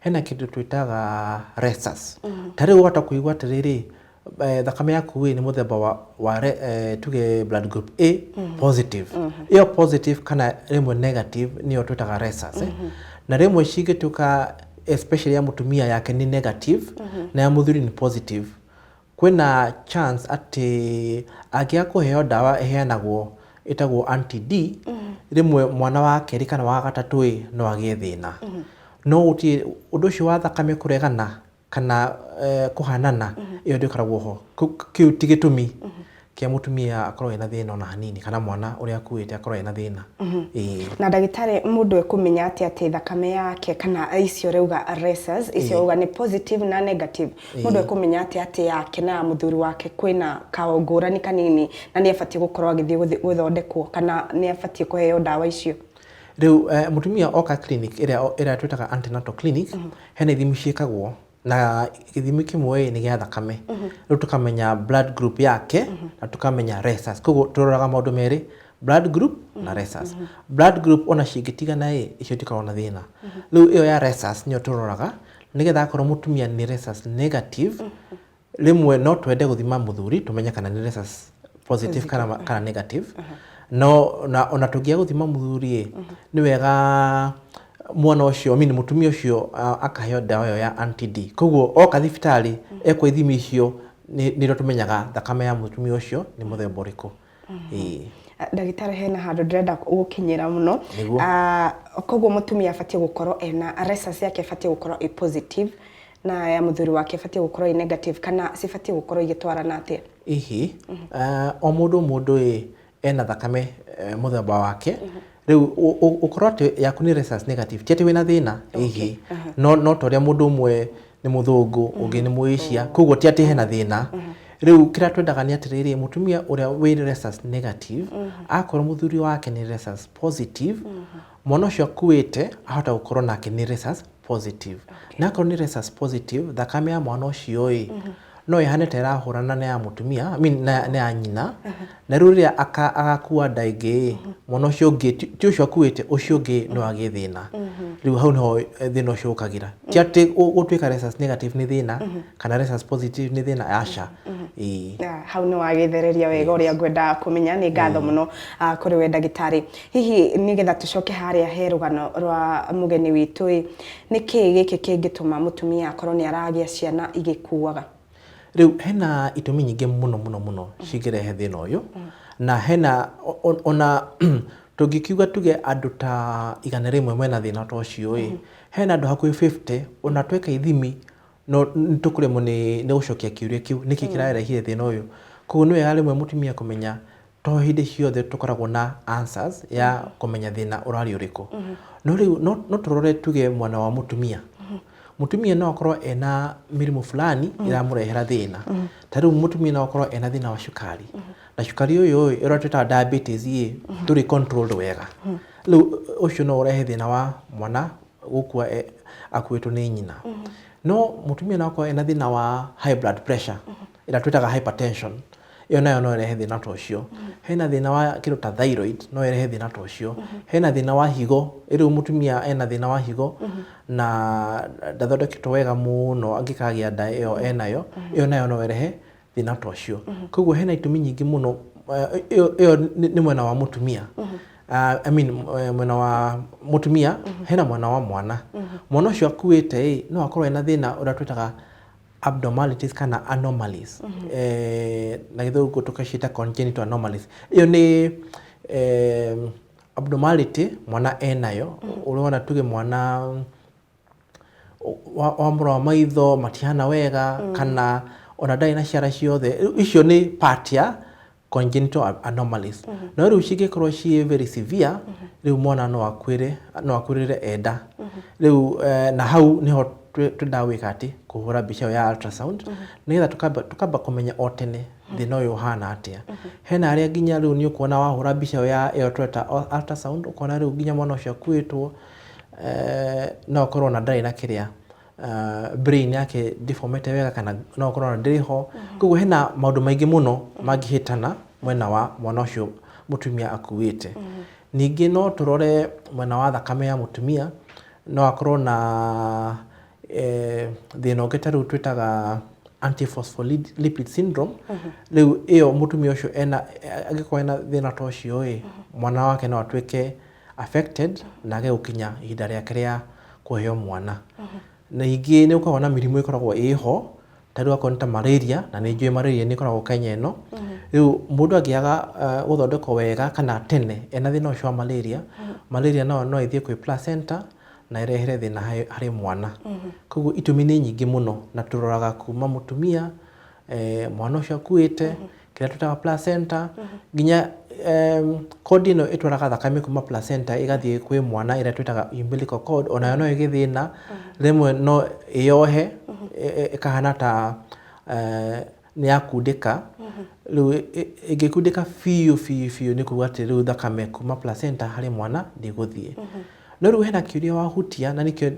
Hena kĩndũ twĩtaga resus. Ta rĩu wahota kũigua atĩrĩrĩ, eh, thakame yaku ĩ nĩ mũthemba wa, wa re- eh, tuge blood group A positive. Ĩyo positive kana rĩmwe negative nĩyo twĩtaga resus. eh. Na rĩmwe cingĩtuĩka especially ya mũtumia yake nĩ negative na ya mũthuri nĩ positive. Kwĩna chance atĩ angĩaga kũheo ndawa ĩheanagwo ĩtagwo anti-D, rĩmwe mwana wa kerĩ kana wa gatatũ ĩ, no agĩe thĩna. No gũtirĩ, ũndũ ũcio wa thakame kũregana kana eh, kũhanana, ĩyo ndĩkoragwo ho. Kĩu ti gĩtũmi Kĩa mũtumia akorwo ena thĩna ona hanini kana mwana ũrĩa akuĩte akorwo ena thĩna. Ĩĩ. Na ndagĩtarĩ mũndũ ekũmenya atĩa atĩ thakame yake kana icio ũrauga rhesus icio ũrauga nĩ positive na negative mũndũ ekũmenya atĩa atĩ yake na ya mũthuri wake kwĩna kaũngũrani kanini na nĩ abatiĩ gũkorwo agĩthiĩ gũthondekwo kana nĩ abatiĩ kũheo ndawa icio? Rĩu mũtumia oka clinic ĩrĩa twĩtaga antenatal clinic, hena ithimi ciĩkagwo na gĩthimi kĩmwe nĩ gĩa thakame rĩu tũkamenya blood group yake na tũkamenya rhesus koguo tũroraga maũndũ merĩ blood group na rhesus blood group ona cingĩtigana ĩ icio itikoragwo na thĩna rĩu ĩyo ya rhesus nĩyo tũroraga nĩgetha akorwo mũtumia nĩ rhesus negative rĩmwe no twende gũthima mũthuri tũmenye kana nĩ rhesus positive kana kana negative no na ona tũngĩaga gũthima mũthuri ĩ nĩ wega mwana ũcio mini mũtumia ũcio ah, akaheo ndawa ĩyo ya antd koguo oka thibitarĩ ekwa ithimi icio nĩ- nĩrĩo tũmenyaga thakame ya mũtumia ũcio nĩ mũthemba ũrĩkũ Ĩĩ. Ah, ndagĩtarĩ hena handũ ndĩrenda gũkinyĩra mũno Nĩguo. Ah, koguo mũtumia abatiĩ gũkorwo ena resus yake ĩbatiĩ gũkorwo ĩ positive na ya mũthuri wake ĩbatiĩ gũkorwo ĩ negative kana cibatiĩ gũkorwo igĩtwarana atĩa ihi ah, o mũndũ mũndũ ĩ ena thakame eh, mũthemba wake rĩu ũ- ũ- ũkorwo atĩ yaku nĩ rhesus negative ti atĩ wĩna thĩna ĩhĩ no no ta ũrĩa mũndũ ũmwe nĩ mũthũngũ ũngĩ nĩ mũĩcia koguo ti atĩ hena thĩna rĩu kĩrĩa twendaga nĩ atĩrĩrĩ mũtumia ũrĩa wĩ rhesus negative akorwo mũthuri wake nĩ rhesus positive mwana ũcio akuĩte ahota gũkorwo nake nĩ rhesus positive na akorwo nĩ rhesus positive thakame ya mwana ũcio ĩ No ĩhane ta ĩrahũrana na ya mũtumia, I mean, na, na ya nyina. Na rĩu rĩrĩa aka, agakua nda ĩngĩ-ĩ, mwana ũcio ũngĩ, ti ti ũcio akuĩte, ũcio ũngĩ no agĩe thĩna. Rĩu hau nĩho eh, thĩna ũcio ũkagĩra. Ti atĩ gũ- gũtuĩka rhesus negative nĩ thĩna, kana rhesus positive nĩ thĩna, aca. Ĩĩ. Ah, hau nĩ wagĩthereria wega ũrĩa ngwendaga kũmenya nĩ ngatho mũno ah, kũrĩ we ndagĩtarĩ hihi nĩgetha tũcoke harĩa he rũgano rwa mũgeni witũ ĩ Nĩ kĩĩ gĩkĩ kĩngĩtũma mũtumia akorwo nĩ aragĩa ciana igĩkuaga? Rĩu hena itũmi nyingĩ mũno mũno mũno cingĩrehe thĩna ũyũ, na hena ona tũngĩkiuga tuge andũ ta igana rĩmwe mena thĩna ta ũcio ĩ, hena andũ hakuhĩ fifty ona tweka ithimi no nĩ tũkũremwo nĩ gũcokia kĩũria kĩu nĩkĩ kĩrarehire thĩna ũyũ. Koguo nĩ wega rĩmwe mũtumia kũmenya to hĩndĩ ciothe tũkoragwo na answers ya mm -hmm. kũmenya thĩna ũrarĩ ũrĩkũ mm -hmm. no rĩu no, no tũrore tuge mwana wa mũtumia mm -hmm mutumia no akorwo ena mirimu fulani mm. iramurehera thina mm. ta riu mutumia no akorwo ena thina wa cukari mm. na cukari uyu uyu iratwita diabetes ri mm. turi controlled wega mm. riu ucio no urehe thina wa mwana gukua e, akuitwo ni nyina mm. no mutumia no akorwo ena thina wa high blood pressure mm. ĩrĩa twĩtaga hypertension, ĩyo nayo no ĩrehe thĩna ta ũcio. Hena thĩna wa kĩndũ ta thyroid, no ĩrehe thĩna ta ũcio. Hena thĩna wa higo, rĩu mũtumia ena thĩna wa higo, na ndathondeketwo wega mũno angĩkagĩa nda ĩyo enayo, ĩyo nayo no ĩrehe thĩna ta ũcio. Koguo hena itũmi nyingĩ mũno, ĩyo ĩyo nĩ nĩ mwena wa mũtumia. I mean mwena wa mũtumia, hena mwena wa mwana. Mwana ũcio akuĩte-ĩ, no akorwo ena thĩna ũrĩa twĩtaga abnormalities kana anomalies eh, na githũngũ tũkaciĩta congenital anomalies ĩyo nĩ eh, abnormality mwana enayo ũrĩa wona tuge mwana wa- wa mũra wa maitho matihana wega kana ona ndarĩ na ciara ciothe Rĩu icio nĩ part ya congenital a- anomalies no rĩu cingĩkorwo ciĩ very severe rĩu mwana no akuĩre no akuĩrĩre enda rĩu eh, na hau nĩho twĩ- twendaga gwĩka atĩ kũhũra mbica ĩyo ya ultrasound nĩgetha tũkamba tũkamba kũmenya o tene thĩna ũyũ ũhana atĩa hena arĩa nginya rĩu nĩ ũkuona wahũra mbica ĩyo ya ĩyo tweta ul- ultrasound ũkona rĩu nginya mwana ũcio akuĩtwo eh, no akorwo na ndarĩ na kĩrĩa ah, brain yake ndĩbomete wega kana no ũkorwo ona ndĩrĩ ho mhm. koguo hena maũndũ maingĩ mũno mhm. mangĩhĩtana mwena wa mwana ũcio mũtumia akuĩte mhm. ningĩ no tũrore mwena wa thakame ya mũtumia no akorwo na eh, thĩna ũngĩ ta rĩu twĩtaga antiphospholipid syndrome rĩu ĩyo mũtumia ũcio angĩkorwo ena thĩna ta ũcio ĩ mwana wake no atuĩke affected na age gũkinya ihinda rĩake rĩa kũheo mwana. Na ingĩ nĩ gũkoragwo na mĩrimũ ĩkoragwo ĩho, ta rĩu akorwo nĩ ta marĩria, na nĩ njũĩ marĩria nĩ ĩkoragwo Kenya ĩno. Rĩu mũndũ angĩaga gũthondekwo wega kana tene ena thĩna ũcio wa marĩria, marĩria nayo no ĩthiĩ kwĩ placenta na ĩrehere thĩna harĩ mwana. Kogwo itũmi nĩ nyingĩ mũno na tũroraga kuma mũtumia, mwana ũcio akuĩte, kĩrĩa twĩtaga placenta mm -hmm. nginya um, kodi ĩno ĩtwaraga thakame kuma placenta ĩgathiĩ kwĩ mwana ĩrĩa twĩtaga umbilical cord onayo no ĩgĩthĩna mm -hmm. rĩmwe no ĩyohe mm -hmm. ĩkahana ta uh, nĩ yakundĩka mm -hmm. rĩu ĩngĩkundĩka biũ biũ biũ nĩ kuga atĩ rĩu thakame kuma placenta harĩ mwana ndĩgũthiĩ mm -hmm. no rĩu hena kĩũria wahutia na nĩkĩo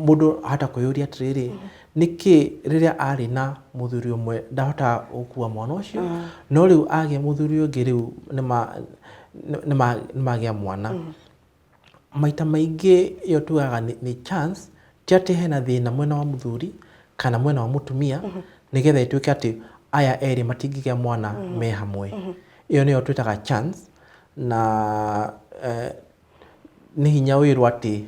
mũndũ ahata kwĩyũria atĩrĩrĩ mm -hmm. Nĩkĩ rĩrĩa arĩ na mũthuri ũmwe ndahotaga gũkua mwana ũcio, no rĩu agĩa mũthuri ũngĩ rĩu nĩ ma- nĩ- nĩ ma- nĩ magĩa mwana? Maita maingĩ ĩyo tugaga nĩ nĩ chance, ti atĩ hena thĩna mwena wa mũthuri kana mwena wa mũtumia, nĩgetha ĩtuĩke atĩ aya erĩ matingĩgĩa mwana me hamwe. Ĩyo nĩyo twĩtaga chance, na eh, Nĩ hinya wĩrwo atĩ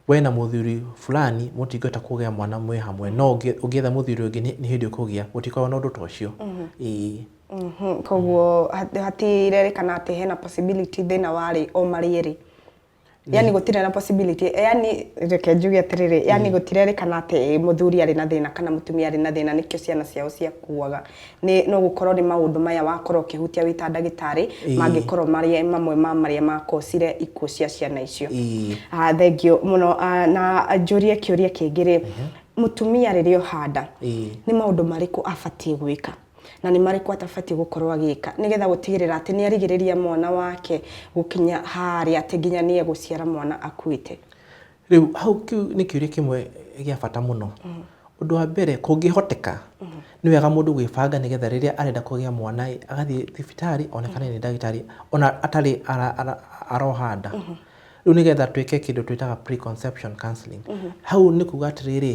we na mũthuri fulani mũtingĩhota kũgĩa mwana mwĩ hamwe, no ũngĩ- ũngĩetha mũthuri ũngĩ nĩ nĩ hĩndĩ ũkũgĩa, gũtikoragwo na ũndũ ta ũcio. Ĩĩ. Mhm, koguo hat- hatirerĩkana atĩ hena possibility thĩna warĩ o marĩ erĩ yani gũtirĩ na possibility yani reke njuge atĩrĩrĩ yani gũtirerĩkana atĩ mũthuri arĩ na thĩna kana mũtumia arĩ na thĩna nĩkĩo ciana ciao ciakuaga nĩ no gũkorwo nĩ maũndũ maya wakorwo ũkĩhutia wĩ ta ndagĩtarĩ Ĩĩ. mangĩkorwo marĩ mamwe ma marĩa makocire ikuũ cia ciana icio Ĩĩ. Ah, thengio mũno Ah, na njũrie kĩũria kĩngĩ rĩ mũtumia rĩrĩa oha nda Ĩĩ. nĩ maũndũ marĩkũ abatiĩ gwĩka na nĩ marĩkũ atabatiĩ gũkorwo agĩka nĩgetha gũtigĩrĩra atĩ nĩ arigĩrĩria mwana wake gũkinya harĩa atĩ nginya nĩ egũciara mwana akuĩte Rĩu hau kĩu nĩ kĩũria kĩmwe gĩa bata mũno. Ũndũ wa mbere kũngĩhoteka, nĩ wega mũndũ gwĩbanga nĩ getha rĩrĩa arenda kũgĩa mwana ĩ, agathiĩ thibitarĩ onekane nĩ ndagĩtarĩ ona atarĩ aroha nda. Rĩu nĩ getha twĩke kĩndũ twĩtaga pre-conception counselling. Hau nĩ kuga atĩrĩrĩ,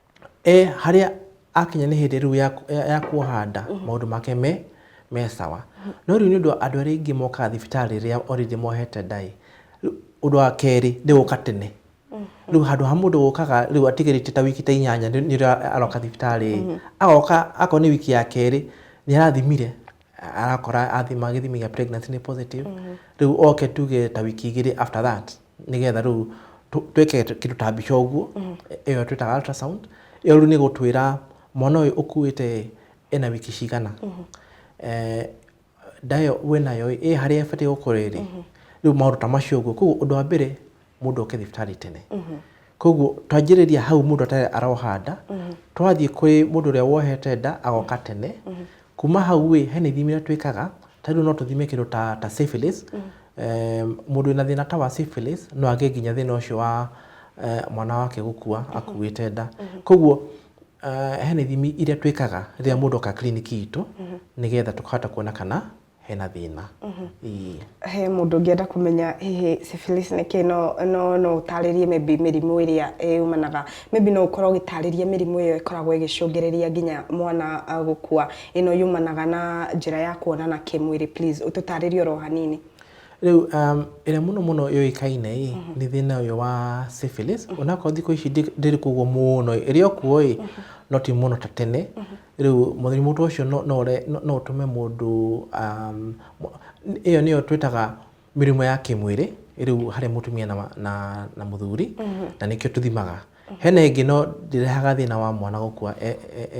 e harĩa akinya nĩ hĩndĩ rĩu ya, ya, ya kuoha nda maũndũ make me me sawa no rĩu nĩ ũndũ wa andũ arĩa aingĩ mokaga thibitarĩ rĩrĩa already mohete nda ĩ rĩu ũndũ wa kerĩ nĩ gũka tene rĩu handũ ha mũndũ gũkaga rĩu atigĩrĩte ta wiki ta inyanya nĩ nĩ rĩo aroka thibitarĩ ĩ agoka akorwo nĩ wiki ya kerĩ nĩ arathimire arakora athima gĩthimi gĩa pregnancy nĩ positive rĩu oke tuge ta wiki igĩrĩ after that nĩgetha rĩu tũ- twĩke kĩndũ ta mbica ũguo ĩyo twĩtaga ultrasound ĩyo rĩu nĩ gũtwĩra mwana ũyũ ũkuĩte ena wiki cigana Eh, ndayo wĩ nayo ĩ harĩa ĩbatiĩ gũkorwo ĩrĩ rĩu maũndũ ta macio ũguo koguo ũndũ wa mbere mũndũ oke thibitarĩ tene koguo twanjĩrĩria hau mũndũ atarĩ aroha nda twathiĩ kwĩ mũndũ ũrĩa wohete nda agoka tene Kuma hau ĩ, hena ithimi iria twĩkaga, ta rĩu no tũthime kĩndũ ta ta syphilis, eeh mũndũ wĩna thĩna ta wa syphilis no agĩe nginya thĩna ũcio wa eeh mwana wake gũkua akuĩte nda. Koguo eeh hena ithimi iria twĩkaga rĩrĩa mũndũ oka kiriniki itũ, nĩgetha tũkahota kuona kana hena thĩna Ii. he mũndũ ũngĩenda kũmenya hihi syphilis nĩ kĩĩ no no no ũtarĩrie maybe mĩrimũ ĩrĩa yumanaga maybe no ũkorwo ũgĩtarĩria mĩrimũ ĩyo ĩkoragwo ĩgĩcũngĩrĩria nginya mwana ah, gũkua ĩno yumanaga na njĩra ya kuonana kĩmwĩrĩ please ũtũtarĩrie oro hanini rĩu um, ĩrĩa mũno mũno yũĩkaine ĩ nĩ thĩna ũyũ wa syphilis onakorwo thikũ ici ndĩ- ndĩrĩ kũguo mũno ĩrĩ o kuo ĩ no ti mũno ta tene Rĩu mũrimũ ta ũcio no no ũre no ũtũme mũndũ ĩyo nĩyo twĩtaga mĩrimũ ya kĩmwĩrĩ rĩu harĩ mũtumia na na na mũthuri na nĩkĩo tũthimaga. Hena ĩngĩ no ndĩrehaga thĩna wa mwana gũkua e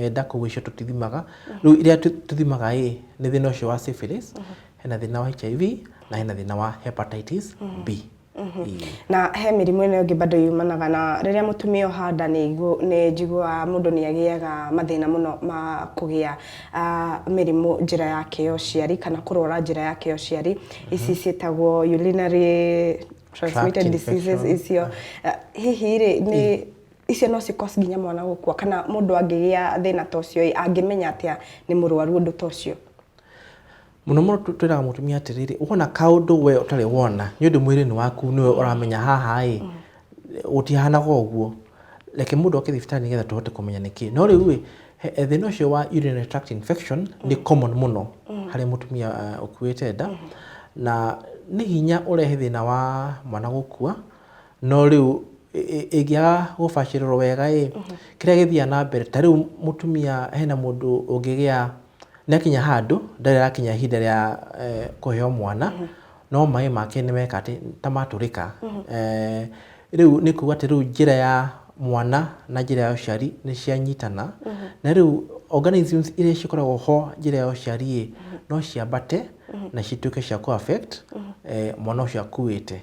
e nda koguo icio tũtithimaga. Rĩu iria tũthimaga ĩ, nĩ thĩna ũcio wa syphilis, hena thĩna wa HIV, na hena thĩna wa Hepatitis B. Mhm. Mm. na he mĩrimũ ĩno ĩngĩ bado yumanaga na rĩrĩa mũtumia oha nda nĩ ngu- nĩ njiguaga mũndũ nĩ agĩaga mathĩna mũno ma kũgĩa ah, mĩrimũ njĩra yake ya ũciari kana kũrwara njĩra yake ya ũciari ici ciĩtagwo urinary transmitted Tract diseases infection. icio Ah, hihi rĩ nĩ icio no cikos nginya mwana gũkua kana mũndũ angĩgĩa thĩna ta ũcio ĩ, angĩmenya atĩa nĩ mũrwaru ũndũ ta ũcio Mũno mũno tũ- twĩraga mũtumia atĩrĩrĩ wona kaũndũ we ũtarĩ wona nĩ ũndũ mwĩrĩ-inĩ waku nĩwe ũramenya haha ĩ gũtihanaga ũguo reke mũndũ oke thibitarĩ nĩgetha tũhote kũmenya nĩkĩ no rĩu ĩ he- he thĩna ũcio wa urinary tract infection nĩ common mũno harĩ mũtumia ah, ũkuĩte nda na nĩ hinya ũrehe thĩna wa mwana gũkua no rĩu ĩ- ĩ- ĩngĩaga gũbacĩrĩrwo wega ĩ kĩrĩa gĩthiaga na mbere ta rĩu mũtumia hena mũndũ ũngĩgĩa nĩakinya handũ ndarĩ arakinya ihinda rĩa eh, kũheo mwana no maĩ make nĩmeka atĩ ta matũrĩka Eh, rĩu nĩ kuga atĩ rĩu njĩra ya mwana na njĩra ya ũciari nĩ cianyitana na rĩu organisms iria cikoragwo ho njĩra ya ũciari ĩ no ciambate na cituĩke cia kũ affect eh, mwana ũcio akuĩte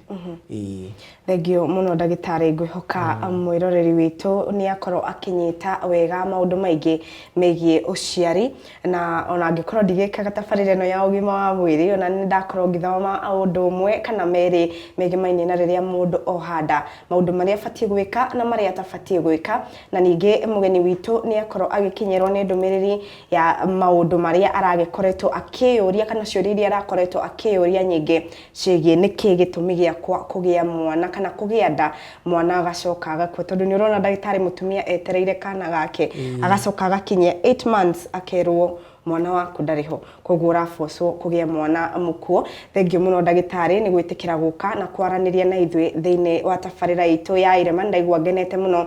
Ĩĩ. Thengio mũno ndagĩtarĩ ngwĩhoka mwĩroreri witũ nĩ akorwo akĩnyita wega maũndũ maingĩ megiĩ ũciari na ona angĩkorwo ndigĩkaga tabarĩra ĩno ya ũgima wa mwĩrĩ ona nĩ ndakorwo ngĩthoma ũndũ ũmwe kana merĩ megĩmainie na rĩrĩa mũndũ oha nda maũndũ marĩa abatiĩ gwĩka na marĩa atabatiĩ gwĩka na ningĩ mũgeni witũ nĩ akorwo agĩkinyĩrwo nĩ ndũmĩrĩri ya maũndũ marĩa aragĩkoretwo akĩyũria kana ciũria iria arakoretwo akĩyũria nyingĩ ciĩgiĩ nĩkĩ gĩtũmi gĩakwa kũgĩa mwana kana kũgĩa nda mwana agacoka agakua tondũ nĩ ũrona ndagĩtarĩ mũtumia etereire kana gake agacoka agakinyia 8 months akerwo mwana waku ndarĩ ho koguo ũrabocwo kũgĩa mwana mũkuo thengiũ mũno ndagĩtarĩ nĩ gwĩtĩkĩra gũka na kwaranĩria na ithuĩ thĩinĩ wa tabarĩra itũ ya irema ndaigua ngenete mũno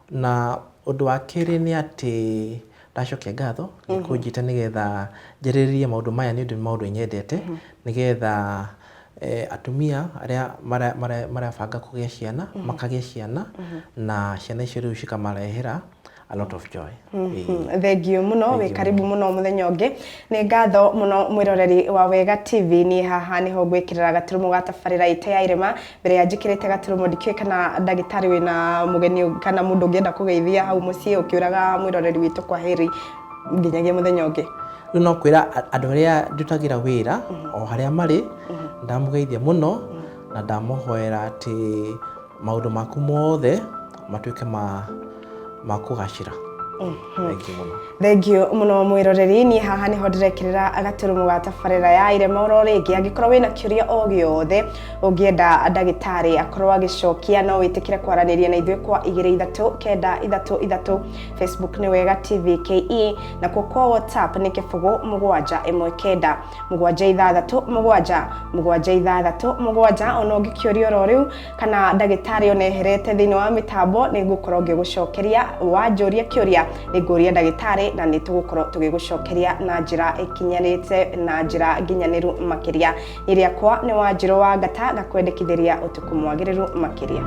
Na ũndũ wa kerĩ nĩ atĩ ndacokia ngatho nĩ kũnjĩta nĩgetha njarĩrĩrie maũndũ maya nĩ ũndũ nĩ maũndũ nyendete nĩgetha atumia arĩa marabanga kũgĩa ciana makagĩa ciana na ciana icio rĩu cikamarehera a lot of joy. Thengiũ mũno, wĩ karibu mũno mũthenya ũngĩ. Nĩ ngatho mũno mwĩroreri wa Wega TV, niĩ haha nĩho ngwĩkĩrĩra gaturũmũ ga tabarĩra itũ ya irĩma mbere ya njĩkĩrĩte gaturumo ndikĩũĩ kana ndagĩtarĩ wĩna mũgeni ũngĩ- kana mũndũ ũngĩenda kũgeithia hau mũciĩ ũkĩũraga mwĩroreri witũ kwa heri nginyagia mũthenya ũngĩ rĩu no kwĩra a- andũ arĩa ndutagĩra wĩra o harĩa marĩ ndamũgeithia mũno na ndamohoera atĩ maũndũ maku mothe matuĩke ma ma kũgacĩra thengi mũno thengio muno mwiroreri niä haha nä ho ndĩrekĩrĩra gaturumo ga tabarĩra ya irema oro rĩngĩ angĩkorwo wĩna kĩũria o gĩothe ũngĩenda ndagĩtarĩ akorwo agĩcokia no wĩtĩkĩre kwaranĩria na ithuĩ kwa igĩrĩ ithatũ kenda ithatũ ithatũ facebook nĩ wega tv ke na kuo kwa whatsapp nĩ kĩbũgũ mũgwanja ĩmwe kenda mũgwanja ithathatũ mũgwanja mũgwanja ithathatũ mũgwanja ona ũngĩkĩũria oro rĩu kana ndagĩtarĩ ona eherete thĩinĩ wa mĩtambo nĩ ngũkorwo ngĩgũcokeria wanjũria kĩũria nĩ ngũria ndagĩtarĩ na nĩ tũgũkorwo tũgĩgũcokeria na njĩra ĩkinyanĩte na njĩra nginyanĩru makĩria nĩ rĩakwa nĩ wanjĩrũ wa ngata ngakwendekithĩria ũtukũ mwagĩrĩru makĩria